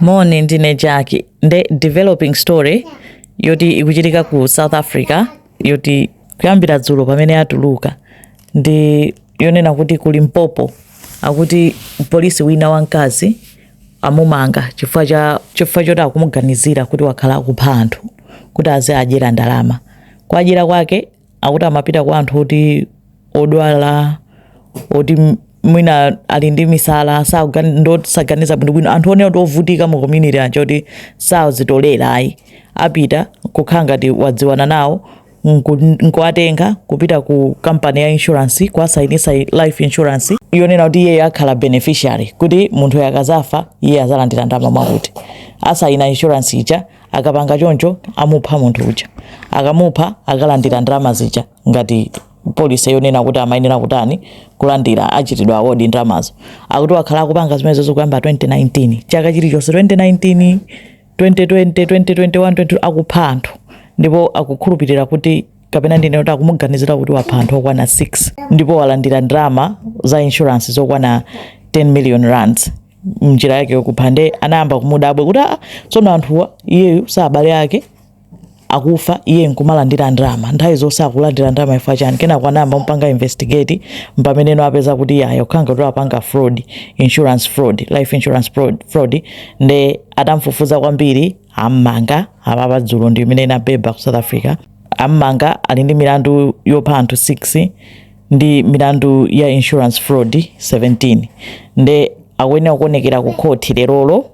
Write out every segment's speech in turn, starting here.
Moni ndine Jaki nde developing story yoti ikuchitika ku South Africa yoti kuyambira dzulo pamene yatuluka ndi yonena kuti ku Limpopo akuti polisi wina wamkazi amumanga chifukwa cha chifukwa choti akumuganizira kuti wakhala akupha anthu kuti aziadyera ndalama kuadyera kwake akuti amapita kwa anthu oti odwala oti m- mwina ali ndi misala sakugani- saganiza bwinobwino anthu onena kuti ovutika mu community aja oti sazitolera ayi apita kukhala ngati wadziwana nawo nku- nkuwatenga kupita ku kampani ya insurance kuwasayinisa life insurance yonena kuti iyeyo akhala beneficiary kuti munthu akazafa iye azalandira ndalama mwakuti asayina insurance ija akapanga choncho amupha munthu uja akamupha akalandira ndalama zija ngati policy yonena kuti amayenera kutani kulandira achitidwa award ndalamazo akuti wakhala akupanga zimenezo kuyambira 2019 chaka chilichonse 2019 2020 2021 20 akupha anthu ndipo akukhulupirira kuti kapena ndinene kuti akumuganizira kuti wapha anthu okwana 6 ndipo walandira ndalama za insurance zokwana 10 million rands mnjira yake yokupha nde anayamba kumudabwa kuti aa tsono anthuwa iyeyu si abale ake akufa iye nkumalandira ndalama nthawi zonse akulandira ndalama chifukwa chani kenako anayamba kumupanga investigate mpameneno apeza kuti iye ayokhanga kuti apanga fraud insurance fraud life insurance fraud, fraud nde atamfufuza kwambiri ammanga apapa dzulo ndi imene inaveka ku south africa ammanga ali ndi milandu yopha anthu 6 ndi milandu ya insurance fraud 17 nde akuyenera kuonekera ku khoti lerolo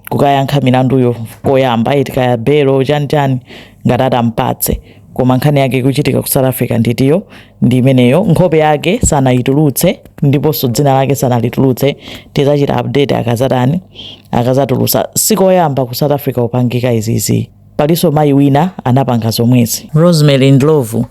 kukayankha milanduyo koyamba eti kaya belo chani chani ngati atampatse koma nkhani yake ikuchitika ku south africa nditu ndi imeneyo nkhope yake sanayitulutse ndiponso dzina lake sanalitulutse tizachita update akazatani akazatulusa sikoyamba ku south africa kupangika izizi palinso mayi wina anapanga zomwezi rosemary ndlovu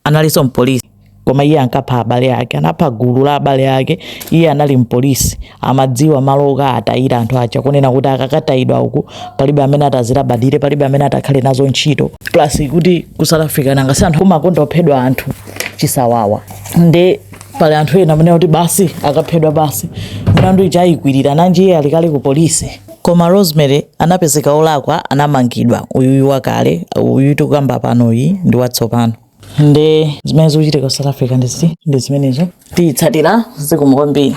analinso mpolisi koma iye ankapha abale ake anapha gulu la abale ake iye anali mpolisi amadziwa malo okatayira anthu aja kunena kuti akakatayidwa uku palibe amene atazilabadire palibe amene atakhale nazo ntchito plus kuti ku south africa nanga si anthu amakonda kuphedwa anthu chisawawa nde pali anthu ena amene kuti basi akaphedwa basi milandu ija ayikwirira nanji iye ali kale ku polisi Koma Rosemary anapezeka olakwa anamangidwa uyuyu wakale uyu tikukamba panoyu ndi watsopano nde zimene zikuchitika ku south africa nditu ndi zimenezo tiyitsatira zikomo kwambiri